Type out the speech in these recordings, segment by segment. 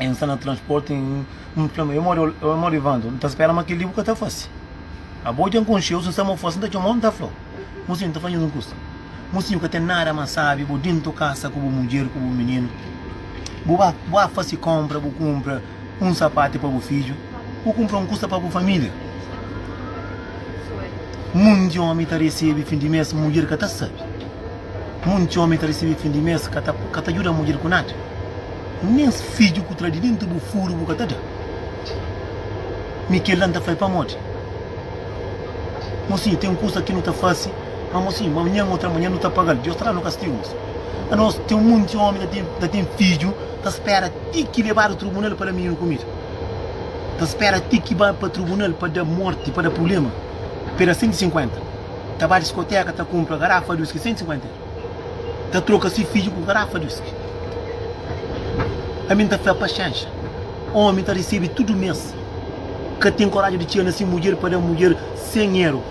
N sta na transporti N N fla-m, Ê modi, ê modi Evandro, N ta spera ma kel-li bu ka ta fase Abo dja N konxe-u, si N sta mo fase N ta txoma-u, N ta fla-u Mosinhu, N ta fadje-s un kusa Mosinhu, ka ten nada más sábi bu dentu kasa ku bu mudjer, ku bu mininu Bu ba, bu ba fase konpra, bu kunpra un sapati pa bu fidju Bu kunpra un kusa pa bu família Munti ómi ta resebe fin di mês, mudjer ka ta sabe. Monti ómi ta resebe fin di mês, ka ta djuda mudjer ku nada, nen fidju ku tra di denti bu furu bu ka ta da. Mi kel la N ta fla-l pamodi? Mosinhu, ten kusa ki nu ta fase, ma mosinhu, ma amanhan ô tramanhan nu ta paga-l. Diós ta da-nu kastigus. Anos, ten monti ómi ta ten ta ten fidju, ta spera ti ki lebadu trubunal pa da mininu kumida, ta spera ti ki ba pa trubunal pa da morti, pa da prubléma. Peda 150. ta ba diskoteka ta kunpra garafa di uski 150 ta troka si fidju ku garafa di uski ami nta fla paxenxa omi ta risibi tudu mes ka ten koraji di txia na si mudjer pa da mudjer 100 euro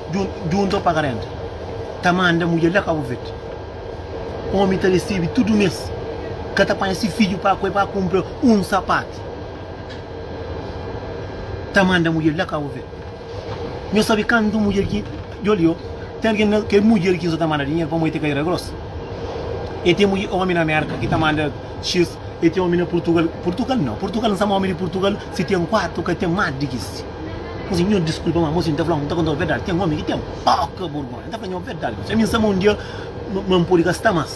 djunta o paga renta ta manda mudjer la kabu verde omi ta risibi tudu mes ka ta panha si fidju pa kue pa kunpra un sapatu ta manda mudjer la kabu verde Nho sabe kantu mudjer ki djo li-o ten algen na kel mudjer ki so ta manda dinheru pamodi ten karera gros e ten mudjer omi na merka ki ta manda x e ten omi na purtugal purtugal nau purtugal nsama omi di purtugal si ten kuatu ka ten mas di ki si nhu si nho diskulpa ma mosi nta fla-u nta konta-u verdadi ten omi ki ten poka burgonha nta fla nho verdadi mosi ami nsama un dia ma n podi ka sta mas.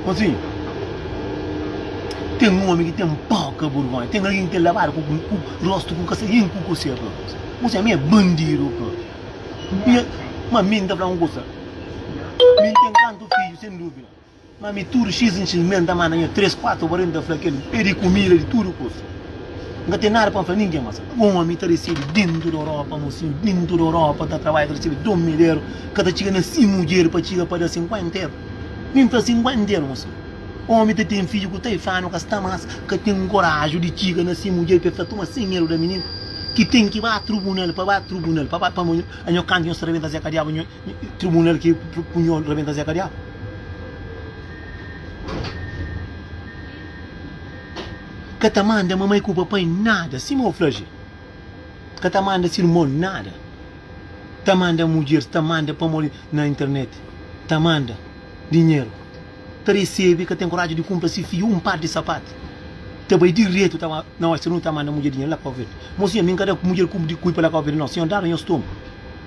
Osi, ten omi ki ten poka burgonha, ten algen ki ten labadu ku ku rostu ku kasain ku kusé pa. Osi, ami é bandidu pa. Mi é, ma mi N ta fla un kusa, mi N ten kantu fidju, sen duvida, ma mi tudu xis en xis mes N ta manda nha três, kuatu obreru N ta fla kel, pedi kumida di tudu kusa. N ka ten nada pa N fla ningen mas Un omi ta resebe dentu di Europa Mosinhu dentu di Europa ta trabadja Ta resebe dom mederu Ka ta txiga na si mudjer Pa txiga pa da sinkuenteru Nen fla sinkuenteru Mosinhu Omi ta ten fidju ku taifanu Ka sta mas Ka ten koraju di txiga na si mudjer Pa e fla tuma sen medu da mininu Ki ten ki ba trubunal Pa ba trubunal Pa ba pa mo a nho kantu nho sta rebenta Zeka Diabu nho Trubunal ki pu nho rebenta Zeka Diabu. Ka ta manda mamai ku papai nada, sima o fla je. Ka ta manda si irmon nada. Ta manda mudjer, ta manda pamodi na internet, ta manda dinheru. Ta resebe, ka ten koraji di kumpra si fidju un par di sapatu. Ta bai diretu ta na Western Union ta manda mudjer dinheru la Kau Verde. Mo sinhor, mi nka da mudjer ku di kui pa la Kau Verde no. Sinhor daba nhos tumu.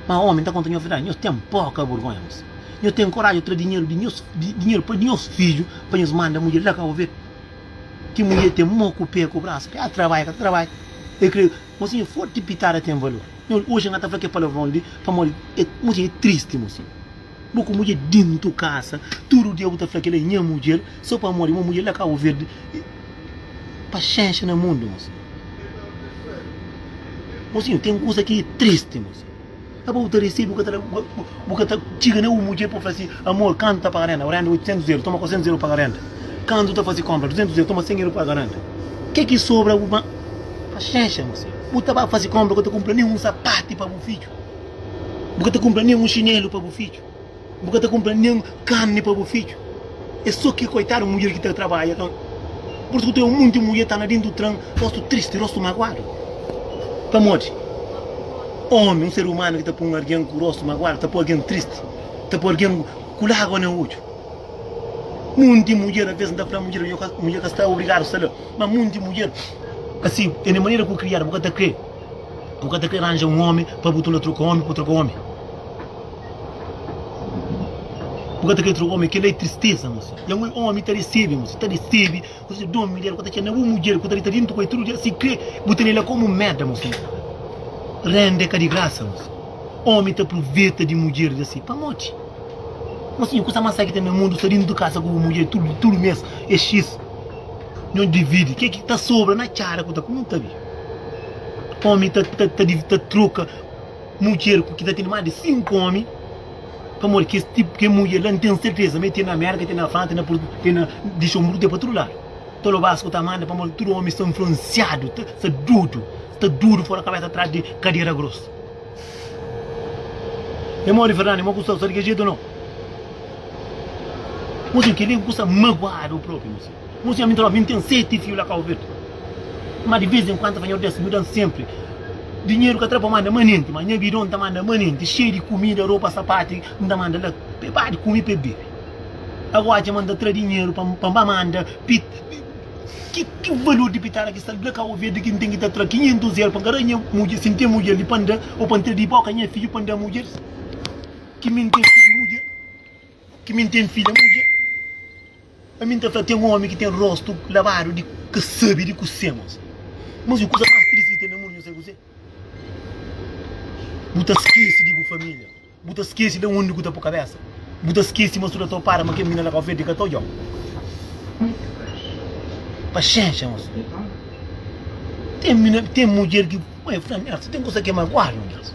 Ma omi, N ta konta nhos verdadi, nhos ten poka burgonha bos. Nhos ten koraji ta tra dinheru di nhos, dinheru pa nhos fidju pa nhos manda mudjer la Kau Verde. Ki mudjer ten mo ku pé ku brasu ke a trabalha ka ta trabalha e kre mosinha forti pitada ten valor nhol oxi na ta fla ke palavron li pamodi e mosi e tristi mosi bo ku mudjer dintu kasa tudu dia bu ta fla kela e nha mudjer so pamodi mo mudjer la kabo verdi e paxenxa na mundu mosi mosinho ten kusa ki e tristi mosi. Aba bu ta resi, bu ka ta da, bu ka ta txiga na un mudjer pa bu fla si, Amor, kantu ta paga renda? Renda 800 eru, toma 400 eru paga renda. Kantu ta fasi konpra? 200 eru, toma 100 eru paga renda. Ke ki sobra bu ba. Paxenxa, mo senhor. Bu ta ba fasi konpra, bu ka ta kunpra nen un sapati pa bu fidju. Bu ka ta kunpra nen un xinelu pa bu fidju. Bu ka ta kunpra nen un karni pa bu fidju. Es so ki koitadu mudjer ki ta trabadja ka. Pur isu ku ten un monti mudjer ta na dentu tran, rostu tristi, rostu maguadu. Pamodi omi, un ser umanu ki ta pun argen ku rostu maguadu, ta po argen tristi, ta po argen ku lagua na odju. Monti mudjer, alves N ta fla mudjer, mudjer ka sta obrigadu sta la, ma monti mudjer asi el e manera ku kriadu. Bu ka ta kre, bu ka ta kre ranja un omi pa bu tula troka omi pa bu troka omi. Bu ka ta kre troka omi, kel la é tristeza mosi. Ya ngoi omi ta resebe mosi, ta resebe, ku se don midjer ku ta txena bu mudjer ku ta dita dentu ku el tudu dia si kre bu tene la komu meda mosi. Rende ka di grasa mosi. Omi ta pruveta di mudjer di si pamodi. Mosinhu kusa mas sai ki ten na mundu sta dentu kasa ku bu mudjer tudu tudu mes é xis. Nho dividi ke ki ta sobra na txada ku ta ku nu ta bi. Omi ta ta ta ta troka Mudjer ku ki ta tene más di sinku ómi, pamodi kes tipu, kes mudjer la, N ten serteza ma e ten na Mérka, ten na Fransa, ten na Port, ten na, di Xonbru ten pa tudu ladu. Ta loba Asko ta manda, pamodi tudu ómi sta nfluensiadu, ta sta dudu, sta dudu fora kabésa atrás di kadera grosu. E modi Fernando, e mo ku sta, sta di kel jetu ou nau? Mo sen, kel-li é un kusa maguadu propi, mo sen. Un senhor mi ntxaló mi ntém seti fiu la cau verde ma di vez enquanto fanhor des mi dan sempre dinheiro ka tra pa manda manente ma nha bidon ta manda manente cheio di comida roupa sapate nta manda la pe bade comi pe bebe agora txema nta tra dinheiro pa pa nba manda pita ki ki valor di pitara ki sta la cau verde ki ntém ki ta tra 500 eur pa ngarra nha mudjer si ntém mudjer li pa nda o pa ntra di boca nha filho pa nda mudjer ki mi ntém filho mudjer. Ki mi N ten fidja mudje, ami N ta fla, ten omi ki ten rostu labadu di ka sabe di kuse mas. Mas i kusa mas tristi ki ten na mundu, nho sabe kuzê? Bu ta skese di bu família, bu ta skese da undi ku ta po kabésa, bu ta skese mas tuda ta opada ma kel mina la Kau-Verdi ka ta odja-u. Paxénxa mas. Ten mina, ten mudjer ki. Mãe fla-m, Nhas, si ten kusa ki é maguadu, nhas.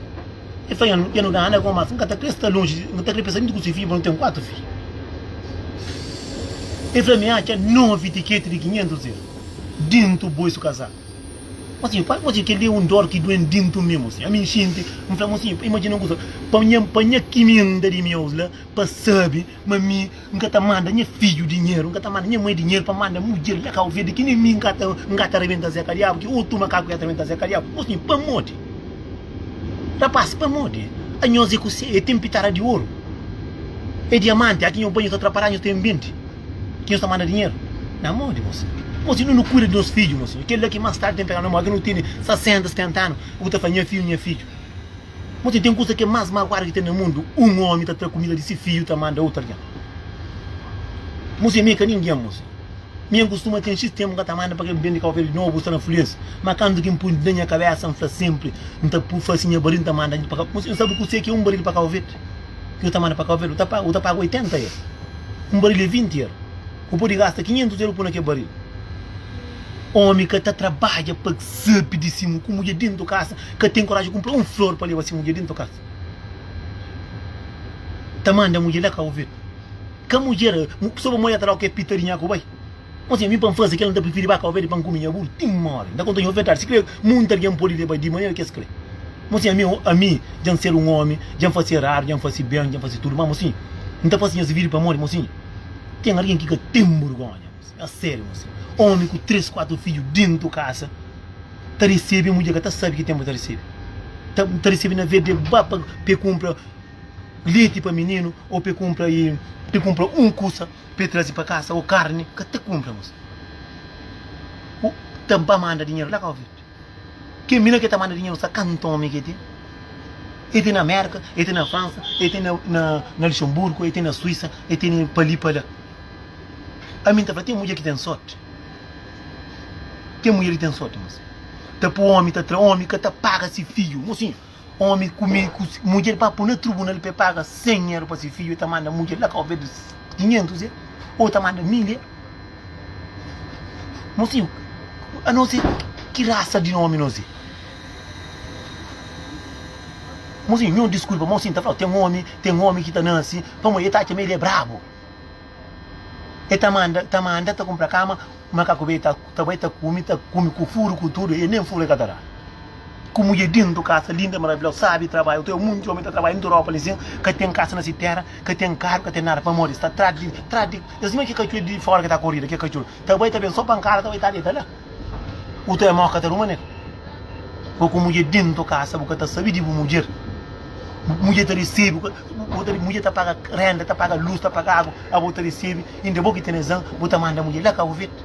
El fla, Nhas, dja nu da anda gomas, N ka ta krê sta lonji, N ka ta krê pensa nunka ku se fidju, pabia nu ten kuatu fidju. El fla-m, Mi atxa novi tiketi di kinhentus eru dintu bo isu kazá. Mosinhu, pa mosinhu, kel-li é un dór ki doi-m dintu mi, mosinhu. Ami N xinti, N fla, Mosinhu, pa imajina un kuza, pa nha, pa nha kiminda di mi aos la, pa sabi Ma mi N ka ta manda nha fidju dinheru, N ka ta manda nha mai dinheru pa manda mudjer la ka oveda ki nen mi N ka ta N ka ta rabenta Zé Kadiabu ki otu makaku ya ta rabenta Zé Kadiabu Bos nhe pamodi Rapaz pamodi a nhos é kusé é ten pitara di oru é diamanti a ki nhos bai nhos ta tra pará nhos ta enbenti ki nhos ta manda dinheru na mô di bos Bos inda nu kuida di nos fidju mosi kel la ki más tardi ten peganu na mô a ki nu tene 60, 70 anu bu ta fla nha fidju nha fidju. Má txeu, ten kuza ki é más maguadu ki ten na mundu, un ómi ta tra kumida di se fidju ta manda otu algen. Muse, Mi é ka ningen, muse. Mi N kustuma ten xis ténpu N ka ta manda pa kel bende kau kel nobu sta na fluénsia. Má kantu ki N pui na nha kabésa, N fla sénpri, N ta pui fase nha baril, N ta manda dja pa kau. Muse, N sabe kuse ki é un baril pa Kau Verde? Ki bu ta manda pa Kau Verde? Bu ta paga 80 eru. Un baril é 20 eru. Bu pode gasta 500 eur pô na kel baril. Omi ka ta trabadja pa sabe di si mu ku mudjer dentu kasa ka ten koraji kunpra un flor pa leba si mudjer dentu kasa. Ta manda mudjer la ka ovedu. Ka mudjer so pa mudjer ta la oke pita di nha ku bai. Mo si e bin pa nfasi kel nta prifiri ba ka ovedu pa nkumi nha buru ti nmori. Nta konta nha ofertadu si kre munta algen pode leba di manera kes kre. Mo si ami ami dja nsedu un omi dja nfasi eradu dja nfasi ben dja nfasi tudu ma mo si nta fasi nhas vidi pamodi mo si. Tem alguém que ka tem burgonha moça, a sério moça. Homem com três, quatro filhos dentro casa ta recebe mulher que até sabe que tem para ta recebe. Ta, ta recebe na vez de ba para pe compra leite para menino ou pe compra e pe compra um coisa pe trazer para casa ou carne, ka ta compra moça. Ou ta ba manda dinheiro lá cá ouvir. Kel mina ke ta manda dinheru sa kantu omi ke ten? E ten na Merka, e ten na Fransa, e ten na Luxemburgo, e ten na Suisa, e ten pa li pa la. Ami N ta fla ten mudjer ki ten sorti, ten mudjer ki ten sorti mas ta pui omi ta tra omi ka ta paga si fidju mosinhu. Omi kume ku si mudjer pa po na trubunal pa e paga 100 ieru pa si fidju e ta manda mudjer la kau bedu 500 e o ta manda 1000 e mosinhu anos e ki rasa di nomi nos e mosinhu nho diskulpa mosin ta flau ten omi ten omi ki ta nasi pamodi e ta atxa ma el e brabu. E ta manda, ta manda ta kunpra kama, makaku bai ta, ta bai ta kumi, ta kumi ku furu ku tudu, e nen furu e ka ta da. Ku mudjer dintu kasa linda i maravilhosa, sabi trabadja, otu e munti omi ta trabadja dintu Europa li sin, ka ten kasa na si tera, ka ten karu, ka ten nada, pamodi sta tras di, tras di, es mê ki katxor di fora ki ta korida, ki katxor ta bai ta ben so pankada ta bai ta deta la. Uta é mó ka ta ruma nel. Bo ku mudjer dentu kasa bu ka ta sabi di bu mudjer. Mudjer ta resebi, mudjer ta paga renda, ta paga lus, ta paga agu, abo ta resebi inda é bo ki ten razan bu ta manda mudjer la Cabo Verde.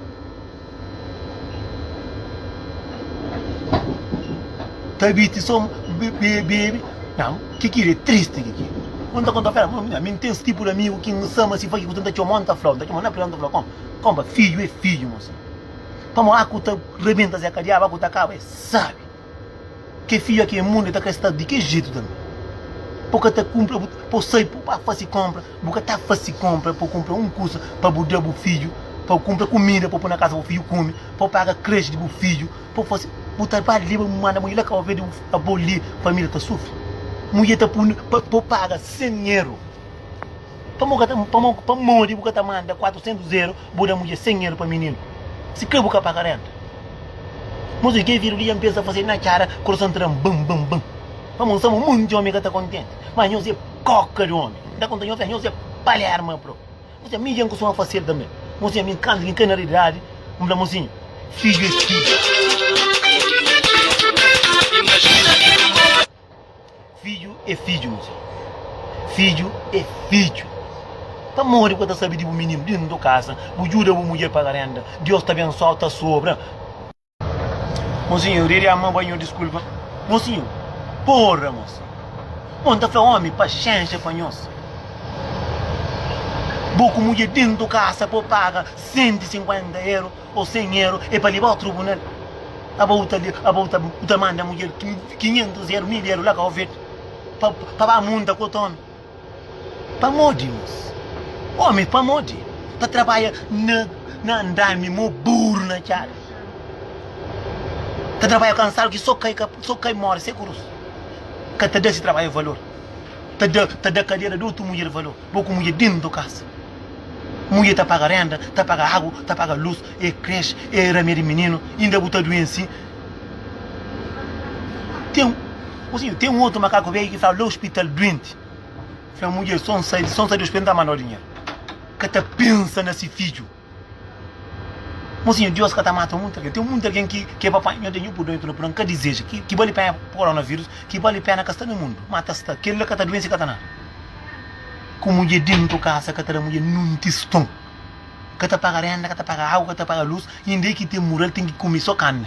Ta biti so bebe, nan ki kila é tristi ki kila. Un ta kontau fela, mami mi ten sti tipo di amigu ki mi sama si faki ku tanta txomon ta flau, txomon na pila, txomon ta flau, konpa, konpa fiju é fiju mosi. Pamo aku ta rebenta zé ka diabu aku ta kaba e sabi ke fia ke mundu e ta kre sta di ke jetu tanbe po ka ta kumpra bu po sai po ba fasi kompra bu ka ta fasi kompra po kumpra un kusa pa bu da bu fidju pa kumpra kumida po pui na kasa bu fidju kumi po paga kreshi di bu fidju po fasi bu tarbadju leba bu manda mudje la kau ve di bu abo li família ta sufri mudje ta pui pa po paga sen eru. Pamo ka ta pamo pamodi bu ka ta manda 400 euro bu da mudjer 100 euro pa mininu si ka bu ka paga renta Mas oji ke viru li dja N pensa fase na cara coração ta dam bam bam bam Pamo N sama monti omi ka ta contenti Mas nhos e coca di omi N ta conta nhos fla nhos e Palerma bro Nhos fla mi dja N costuma fasel tambe Mosinha mi canta ki N ka na realidade N fla mosinha fidju e fidju. Fidju é fidju, mon txeu. Fidju é fidju. Pamodi bu ka ta sabe di bu mininu dentu di bu kasa, bu djuda bu mudjer paga renda, Dios ta abensoa-u, ta sobra. Mosinhu, Riri ama ba nho diskulpa. Mosinhu, Porra, mosi! Bo N ta fla omi, paxénxa pa nhos. Bo ku mudjer dentu kasa pô paga 150 eru. Ou sem ero é pa lebao trubunal Aba u ta le aba u ta u ta manda mudjer ki quinhentos ero mil ero la ka ovet pa pa ba munta ku otu omi pamodi mos omi pamodi ta trabadja na na andami mo buru na txada ta trabadja kansadu ki so kai ka so kai mori se kurus ka ta da si trabadja valor ta da ta da kadera di otu mudjer valor bo ku mudjer dentu kasa. Mudjer ta paga renda, ta paga agu, ta paga lus, e kresh, e ramia di mininu, inda bu ta duensi. Ten, ô sinhor, ten un otu makaku bêi ki fla, lé ospital duenti. Fla, mudjer, son sai, son sai di ospital, n'ta manda-u dinheru. Ka ta pensa na si fidju. Mo sinhor, Dios ka ta mata munti algen. Ten munti algen ki ke pa panha, nho ten, nho pur duenti, no pur, n'ka dizeja. Ki, ki bali penha, koronavírus, ki bali pena ka sta na mundu, ma ta sta. Kel-la ka ta duensi, ka ta nada. Ku mudje dentu kasa ka ta da mudje nun tiston. Ka ta paga renda, ka ta paga agu, ka ta paga lus. Inda e ki ten mura el ten ki kume so karni.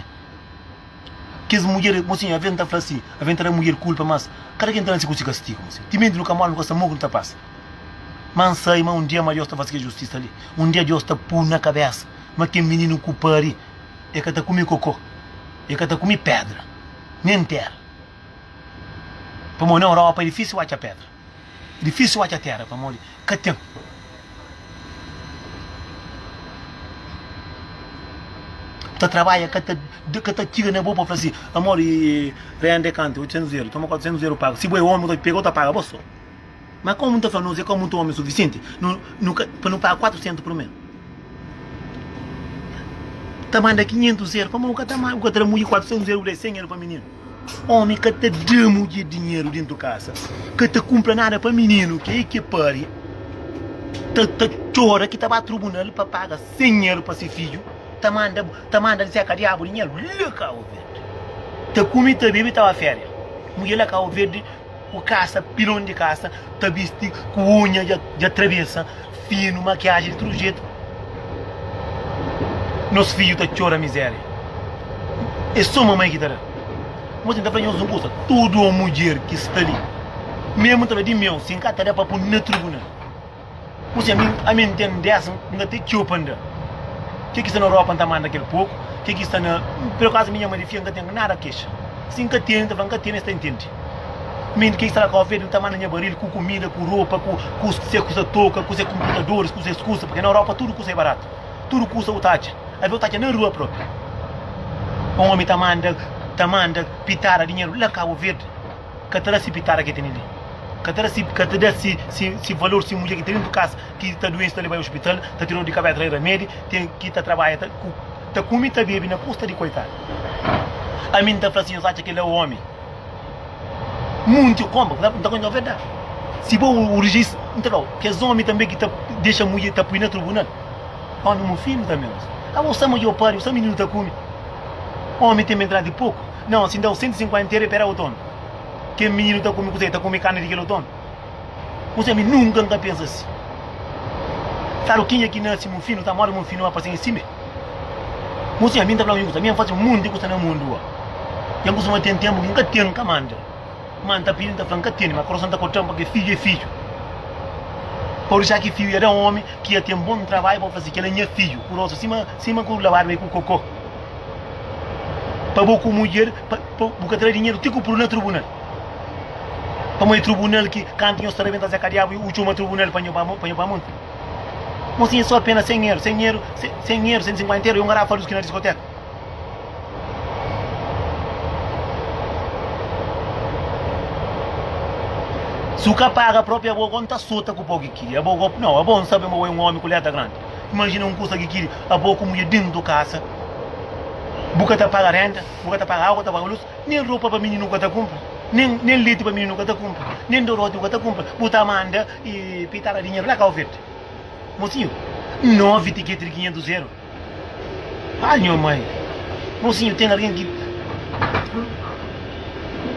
Kes mudjer, mo sin, aven ta fla si, aven ta da mudjer kulpa, mas kada ken ta nase ku si kastigu, mo sin. Timenti nu ka mora, nu ka sa mo ku nu ta pasa. Ma N sai ma un dia ma Deus ta fase kes justisa li. Un dia Deus ta pun na kabesa ma ken mininu ku pari e ka ta kume koko, e ka ta kume pedra, nen tera. Pamodi na Europa e difísil atxa pedra. É difísil atxa téra pamodi ka ten. Bu ta trabadja ka ta ka ta txiga na bo pa fla si amor e rende kantu? 800 euro, toma 400 euro paga. Si bo é omi bu ta pega-u ta paga bo so. Ma komu nu ta fla nos é ka mutu omi sufisienti nu nu ka pa nu paga 400 prumé. Ta manda 500 euro pamodi bu ka ta bu ka ta da mudjer 400 euro bu da 100 euro pa mininu. Omi ka ta da mudjer dinheru dentu kasa ka ta kunpra nada pa mininu ke i ke pari ta ta txora ki ta ba trubunal pa paga sen eru pa se fidju ta manda ta manda zeka diabu dinheru la kau verdi ta kumi ta bebi ta ba feria mudjer la kau verdi Ku kasa, pilon di kasa, ta bisti ku unha dja trabesa, finu, makiaji di tudu jetu. Nos fidju ta txora mizéria. É sô mamai ki ta da. Mô, ten ta fla nhos un kuza, tudu un mudjer ki sta li, memu ta fla di meu, si N ka ta da pa pun na tribunal. Kusi ami, ami N ten dés, N ka ten txeu pa N da Ke ki sta na ropa N ta manda kel poku Ke ki sta na, per acaso mi nha ma di fia N ka ten nada kexa Si N ka tene, N ta fla N ka tene es ta intende Mi ke ki sta na kofedi N ta manda nha baril ku kumida, ku ropa, ku Ku se kusa toka, ku se konputadoris, ku ses kusa Purke na Europa tudu kusa e baratu Tudu kusa u ta atxa, alvê u ta atxa na rua propi Un omi ta manda, ta manda pitada dinheru la Kabo Verde. ka ta da si pitada ki tene li, ka ta da si, ka ta da si, si, si valor, si mudjer ki ta ben pa kas ki sta duensi ta lebal ospital, ta tira-l di kabes atrai ramedi, te ki ta trabalha ta ku, ta kumi ta bebi na kusta di koitadu. Ami N ta fla si nhos atxa kel-la é omi, munti konpa, N ta N ta konta nhos verdadi, si bo o rejis, N ta fla-u, kes omi tanbe ki ta dexa mudjer ta pui na trubunal, omi mu fidju tanbe, abo sama dja o pariu, sa mininu ta kumi, omi ten bentidadi poku. Não, se dau 150 era pera otonu Kel mininu ta kume kuzé? Ta kume karni di kel otonu? Kuzé? Mi nunka N ka pensa asi Karo, kenha ki nase mufinu ta mori mufinu a pasen si me Kuzé? Mi N ta flau injusta Mi N fase munt di kusa na mundu a Dja N kustuma ten tenpu ki N ka ten N ka manda ma N ta pidi N ta fla N ka tene ma kurason ta korta-m pake fidju e fidju Pau disa ki fiu e da omi ki dja ten bon trabadju pa fla si Kel la nha fidju kurosu sima sima ku lavadu e ku koko pa bo ku mudjer pa bu ka tra dinheru ti ku puru na trubunal pamó e trubunal ki kantu nhos ta rebenta zé kadiabu u txoma trubunal pa nho pa nho pa monti mon sin e so apena sen eru sen eru sen eru sen sinkuenta eru e un garafa di uski na diskoteka si u ka paga propi abo go nta sota ku po ki kiri abo go no abo nsabe ma bo e un omi ku leta grandi. Imajina un kusa ki kiri abo ku mudjer dentu kasa. Bu ka ta paga renta, bu ka ta paga agu, ta paga lus, nen ropa pa mininu ka ta kunpra, nen leti pa mininu ka ta kunpra, nen doroti bu ka ta kunpra. Bu ta manda pitada dinheru la kau verde. Mosinhu, novi tiketi di kinhentus eru. Ai nho mai! Mosinhu, ten algen ki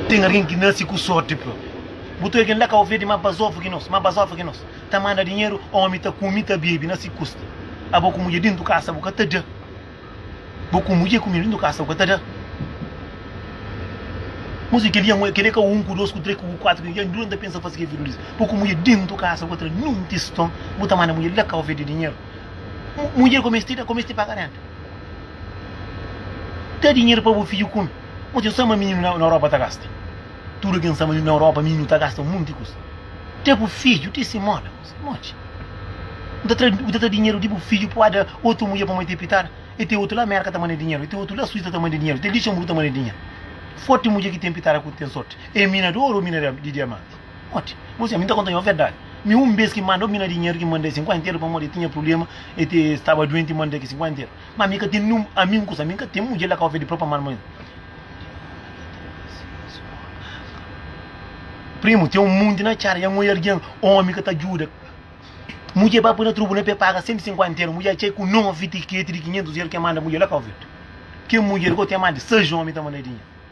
ten algen ki nasi ku sorti propi. Bu ta oi algen la kau verde ma bazofu ki nos, ma bazofa ki nos. Ta manda dinheru, omi ta kume, ta bebe na si kusta. Abo ku mudje dentu kasa bu ka ta da. Bo ku mudje kume dentu kasa bu ka ta da. Mos di kel dia ngue, kel dia ka un, ku dos, ku tres, ku kuatru, ku cincu, duranta pensa fasi kel video li. Bo ku mudje dentu kasa bu ka ta da nenhum tiston, bu ta manda mudje la kau fedi dinheru. Mudjer ku mesti da, ku mesti paga renta. Da dinheru pa bu fidju kume. Mos ten só ma mininu na Europa ta gasta. Tudu ken sa ma na Europa minhu ta gasta monti kusa. Te bu fidju, ti si moda. Kuzê modi? Bu ta tra, bu ta tra dinheru di bu fidju pa oda otu mudjer pamodi te pitada? E te otu la Amerika ta manda dinheru, e te otu la Suisa ta manda dinheru, te Lixenburgu ta manda dinheru. Foti mudjer ki ten pitada ku ten sorti e mina di oru o mina di diamanti. Modi? Bo sibi mi ta konta nho verdadi. Mi un bes ki manda o mina dinheru ki manda e 50 eru pamodi e tinha prublema, e te staba duenti, manda ki 50 eru. Ma mi ka ten niun ami un kusa mi ka ten mudjer la kau fe di propria marmoi primu ten un munti na txara ya ngoi argen omi ka ta djuda mudjer ba poi na trubu na pe paga sentu sinkuenta eru mudjer atxai ku nove tiketi di kinhentus eru ke manda mudjer la kau fe ken mudjer gou ten ma di sais omi ta manda dinhe.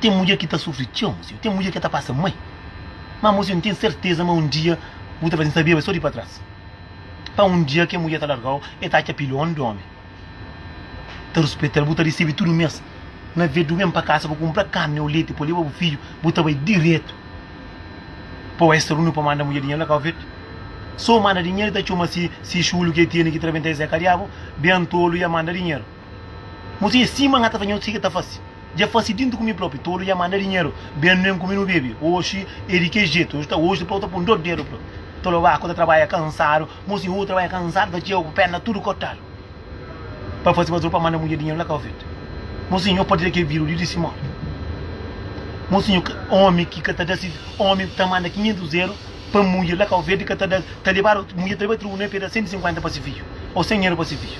Ten mudjer ki ta sufri txeu, mozinho. Ten mudjer ki ta pasa mai. Má, mozinho, N ten serteza ma un dia bu ta fla sin, Sabiaba, es sô di pa tras. Pá, un dia kel mudjer ta larga-u, el ta atxa pil ômi di ômi ta ruspeta-l. Bu ta resebe tudu mês. Na ve, du ben pa kasa, bu kunpra karni ô leti pa leba bu fidju, bu ta bai diretu pa Western Union pa manda mudjer dinheru la. Ka bu fete sô manda dinheru, el ta txoma si si xulu ki el tene ki ta rabenta es. Zé Kadiabu ben tolu i el manda dinheru. Mo si é sima nga ta faze, nho siga ta fase. Dja fase dintu ku mi propi, tolu dja manda dinheru ben nen ku mi nu bebe. Oxi é di ke jetu, oxi ta oxi, depois ta pun dos dedu pro. Tolu ba ku ta trabalha kansadu, mo si hu trabalha kansadu ta txeu ku perna tudu kotadu. Pa fase bazul pa manda mudjer dinheru la kau fete. Mo si nho patria ke viru di di simora. Mo si nho ka omi ki ka ta da si omi ta manda kinhentus dedu. pa mudjer la Kauvedu ka ta da ta lebadu mudjer ta lebadu tribunal peda 150 pa si fidju ou 100 euro pa si fidju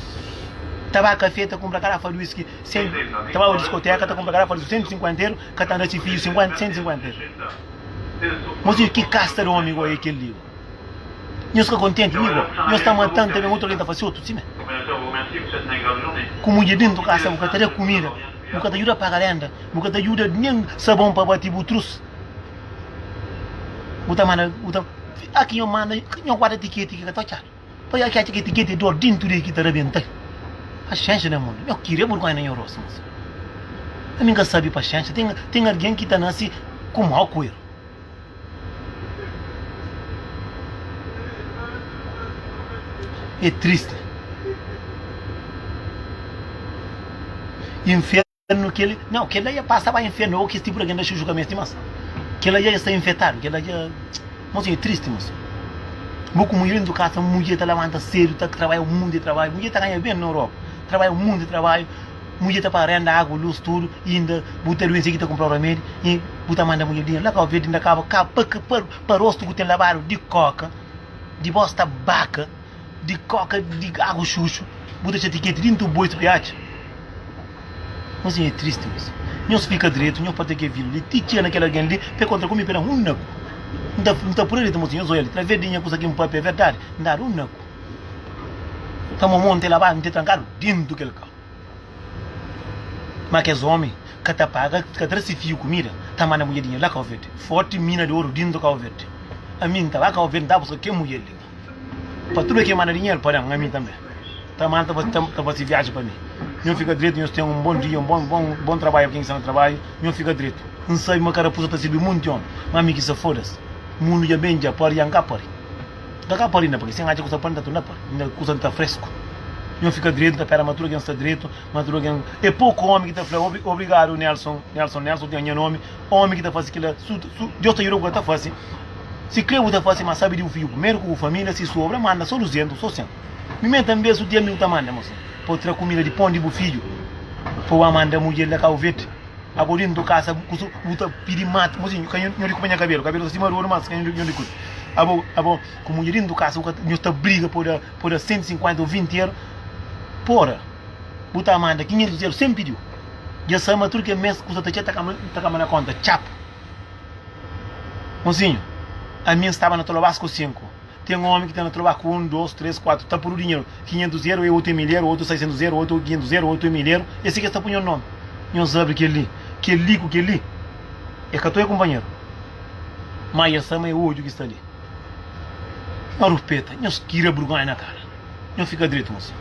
ta ba kafé ta kunpra karafa di whisky 100 ta ba pa diskoteka ta kunpra karafa di whisky 150 euro ka ta da si fidju 50 150 euro mo sidu ki kasta di omi goi é kel li goi nhos ka kontenti li goi nhos ta matan ta ben otu algen ta fase otu simé ku mudjer dentu kasa bu ka ta da kumida bu ka ta djuda paga renda bu ka ta djuda nen sabon pa bati bu trus. bu ta manda bu ta fika ki nho manda ki nho guarda tiketi ki ka ta otxadu poi nha ki atxa ki tiketi di dor dintu di ki ta rabentai paxénxa na mundu nho kiri e burgonha na nho rostu mos na mi ka sabi paxénxa ten ten algen ki ta nase ku mau ku eru e tristi infe. no kel não kel la ia passa ba inferno ou kes tipo de genda xuxu cabeça demais kel la ia está infectado kel la ia não sei é triste moço bu como mulher dentro casa mulher está levanta cedo está trabalha um monte de trabalho mulher está ganha bem na Europa trabalha um monte de trabalho mulher está para renda água luz tudo e ainda bu está doente aqui está comprar remédio e bu está manda mulher dinheiro lá cá verde ainda acaba cá para para rosto que tem lavado de coca de bosta baca Di koka di agu xuxu bu ta xatia keti dintu boi spriatxa nhos nha é tristi uis nhos fika dretu nhos pata ke vila li ti txia na kel algen li pe kontra ku mi pe dan un naku n ta pura li ta mostra nhos oia li traves di nha kusa ki n papia é verdadi n dadu un naku ta mo mo n te labadu n te trankadu dintu kel kau ma kes omi ka ta paga ka tra si fiu kumida ta manda mudje di nha la kau verde forti mina di oru dintu kau verde ami n ta ba kau verde n ta buska kel mudje li. Pa tude ki manda dinheru pa dan ami tanbe ta manda ta fasi viaji pa mi nho fika dretu nhos ten un bon dia un bon bon bon trabalhu pa kin ki sta na trabalhu nho fika dretu n sabi ma karapusa ta sirbi munti omi ma ami ki sa fodas mundu dja ben dja pari dja n ka pari n ka ka pari inda pa ki si n atxa kusa pa n da tu nda pari inda kusa n ta fresku nho fika dretu n ta pera ma tudu algen sta dretu ma tudu algen e poku omi ki ta fla obri obrigadu Nelson Nelson Nelson tinha nha nomi omi ki ta fasi kila su su Deus ta juda ku el ta fasi Si kre bu ta fase ma sabi di bu fidju primeru ku bu familia si sobra manda so duzentus so sen mi menta un bes su diel mi bu ta manda mo sen pa bu tra kumida di pon di bu fidju pa bu amanda mu diel da kau verde ago dintu kasa bu kusu bu ta pidi matu mozinhu ka nho di kupa nha kabelu kabelu sa sima rodu mas ka nho di kutu abo abo ku mudje dintu kasa bu ka nho ta briga pa bu da pa bu da sentu sinkuenta o vinti euro pora bu ta manda kinhentus euro sen pidiu dja sa ma tur ke mes kusa ta txeu ta kaba ta kaba na konta txapu. Mozinhu, ami N staba na ta lobás ku sinku. Ten ómi ki ta na ta lobá ku un, dôs, três, kuatu. Ta purdu dinheru. Kinhentus eru é otu mil eru, otu saisentus eru, otu kinhentus eru, otu mil eru. É si ki es ta pui nhos nómi. Nhos abri kel-li. Kel-li ku kel-li é ka toi kunpanheru. Má es ama é odju ki sta li. Nhos rupeta. Nhos kira burgónha na kara. Nhos fika dretu, mozinhu.